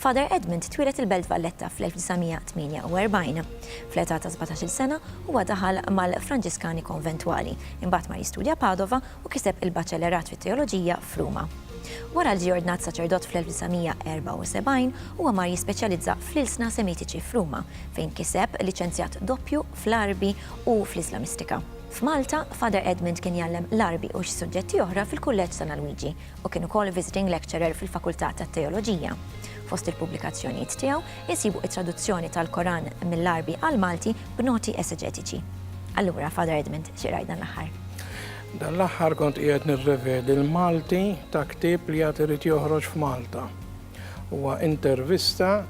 Father Edmund twieled il-Belt Valletta fl-1948. Fl-età ta' sbatax-il sena, huwa daħal mal-Franġiskani Konventwali, imbagħad mar jistudja Padova u kiseb il-Baċellerat fit-Teoloġija f'Ruma. Wara li ġie ordnat saċerdot fl-1974, huwa mar jispeċjalizza fl-ilsna Semitiċi f'Ruma, fejn kiseb liċenzjat doppju fl-Għarbi u fl-Islamistika. F'Malta, Father Edmund kien jgħallem l-Għarbi u xi suġġetti oħra fil-Kulleġġ San Alwiġi, u kien ukoll visiting lecturer fil-Fakultà tat-Teoloġija. Fost il-pubblikazzjonijiet tiegħu insibu t-traduzzjoni tal-Koran mill-Għarbi għall-Malti b'noti eseġetiċi. Allura, Father Edmund, xi qrajt dan l-aħħar? Dan l-aħħar kont qiegħed nirrevedi l-Malti ta' ktieb li għad irid joħroġ f'Malta. Huwa intervista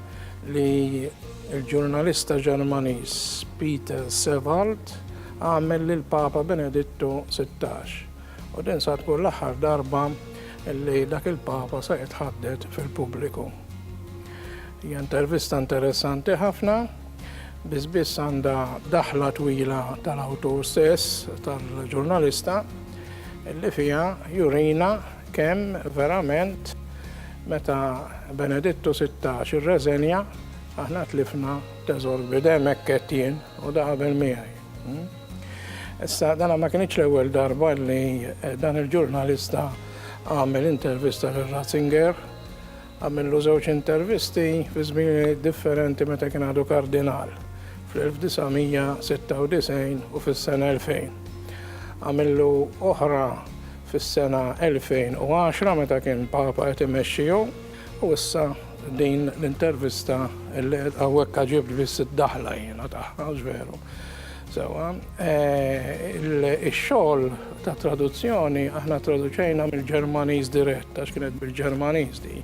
li l-ġurnalista Ġermaniż Peter Sewald għamel lill-Papa Benedittu 16. U din sa tkun l-aħħar darba li dak il-Papa se jitħadded fil-pubbliku. Hija intervista interessanti ħafna, biss biss għandha daħla twila tal-awtur stess, tal-ġurnalista, li fija jurina kemm verament meta Benedittu 16 irreżenja aħna tlifna teżor bidem hekk qed jien u da qabel miegħi. Issa dana ma kienx l-ewwel darba li eh, dan il-ġurnalista għamel intervista lil Ratzinger, għamillu żewġ intervisti fi żmieni differenti meta kien għadu kardinal fl-1996 u fis-sena 2000. Għamillu oħra fis-sena 2010 meta kien papa qed imexxiju U issa din l-intervista li għawek għagħib biss id-daħla jena taħħa, veru. Sewa, eh, il-xol ta' traduzzjoni aħna traduċejna mill-Ġermaniż dirett, għax kienet bil-Ġermaniż di.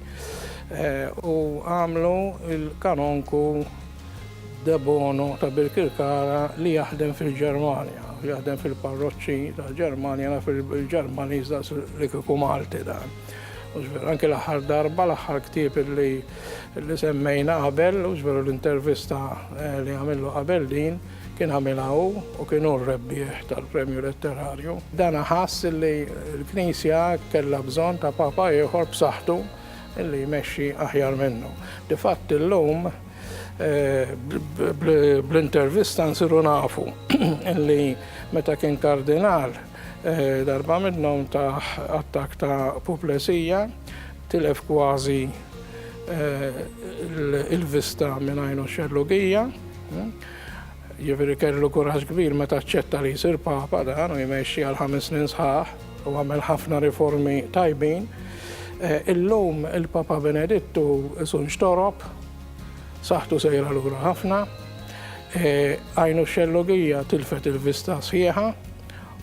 Eh, u għamlu il-kanonku debono ta' bil-kirkara li jaħdem fil-Ġermanja, jaħdem fil-parroċċi ta' Ġermanja, fil-Ġermaniż da' li kiku Malti dan. Mhux veru, anki l-aħħar darba, l-aħħar ktieb li li semmejna qabel, mhux veru l-intervista eh, li għamillu qabel din, kien għamilha hu u kien hu r-rebbieħ tal-Premju Letterarju. Dan ħass li l-Knisja kellha bżonn ta' papa ieħor b'saħħtu li jmexxi aħjar minnu. Difatt illum eh, bl-intervista nsiru nafu li meta kien kardinal Darba minnhom tah attakk ta' puplesija, tilef kważi l-vista minn għajnu x-xellugija. Jiġifieri kellu kuraġġ kbir meta aċċetta li jsir Papa dan u jmexxi għal ħames snin sħaħ u għamel ħafna riformi tajbin. Illum il-Papa Benedittu isu nxtorob, saħħtu sejra lura ħafna, għajnu x-xellugija tilfet il-vista sħiħa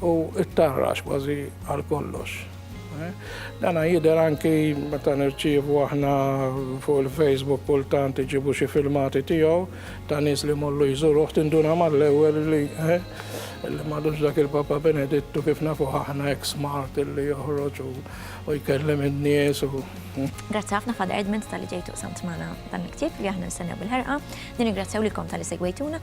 u t-tarrax kważi għal kollox. Dana jider anki meta nirċievu aħna fuq il-Facebook kultant iġibu xi filmati tiegħu ta' nies li mollu jżuruh tinduna mal-ewwel li eh, li madux dak il-Papa Benedittu kif nafu aħna ex smart li joħroġ u jkellem in-nies u. Hmm. Grazzi ħafna Father Edmund tal-li ġejtu samt magħna dan il-ktieb li aħna nistennew bil-ħerqa. Nirringrazzjaw lilkom tal-li segwejtuna